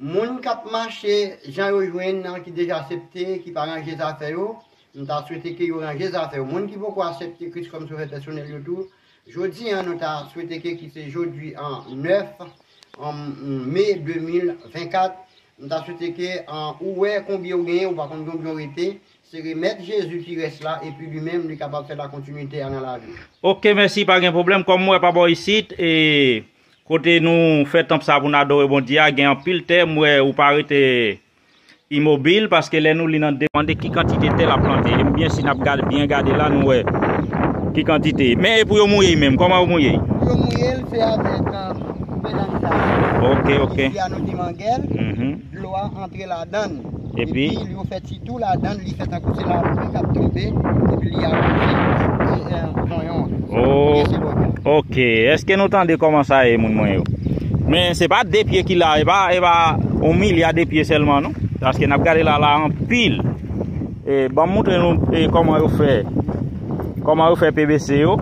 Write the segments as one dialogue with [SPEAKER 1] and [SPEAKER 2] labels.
[SPEAKER 1] Moun kap mache jan yo jwenn nan ki deja asepte ki pa ranje zafè yo m ta swete ke yo ranje zafè yo moun ki poko asepte kris kòm sovè pèsonèl yo tou jodi an nou ta swete ke ki se jodi an 9 me 2024 m ta swete ke ou wè konbyen ou genyen ou pa konn konbyen ou rete se remèt jezi ki rès la epi li menm li kapab fè la kontinite a nan laviw. Ok mèsi pa gen
[SPEAKER 2] pwoblèm kòm m wè pa bò isit e. Kote nou fè tanp sa pou nou adore Bondye a gen anpil tè m wè ou pa rete imobil paske lè nou li nan demande ki kantite tè lap plante ebyen si nap gade byen gade la nou wè ki kantite men epou yo mouye y menm kòman yo mouye y. Pou yo mouye l se
[SPEAKER 1] avèk Vèdansa ok
[SPEAKER 2] ok. Ki fè a nou di mangel.
[SPEAKER 1] dlo a antre ladan l epi yo fè ti tou ladan l li fè tankou se lapli k ap tonbe epi li awoze
[SPEAKER 2] zonyon an oubyen se lòt la ok èske nou tande kòman sa ye moun mwen yo men se pa de pye ki la e pa e pa on milya de pye sèlman non paske n ap gade la la anpil e ban m montre nou e kòman yo fè kòman yo fè pvc yo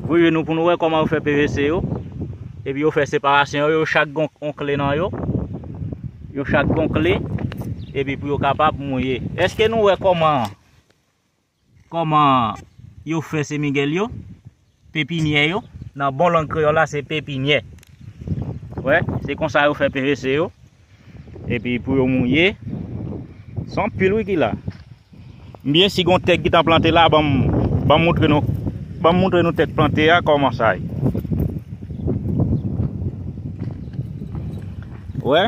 [SPEAKER 2] voye nou pou nou wè kòman yo fè pvc yo Epi yo fè separasyon yo, yo chak gen yon kle nan yo. Yo chak gen yon kle, epi pou yo kapab mouye. Eske nou wè kòman, kòman yo fè semigèl yo, pepinyè yo? Nan bon lang kreyòl la se pepinyè. Wè, se konsa yo fè PVC yo. Epi pou yo mouye. Son pil wi ki la. Mbyen si gon tèk ki tan plante la banm banm moutre nou banm moutre nou tèk plante a kòman sa ye. Ou wè?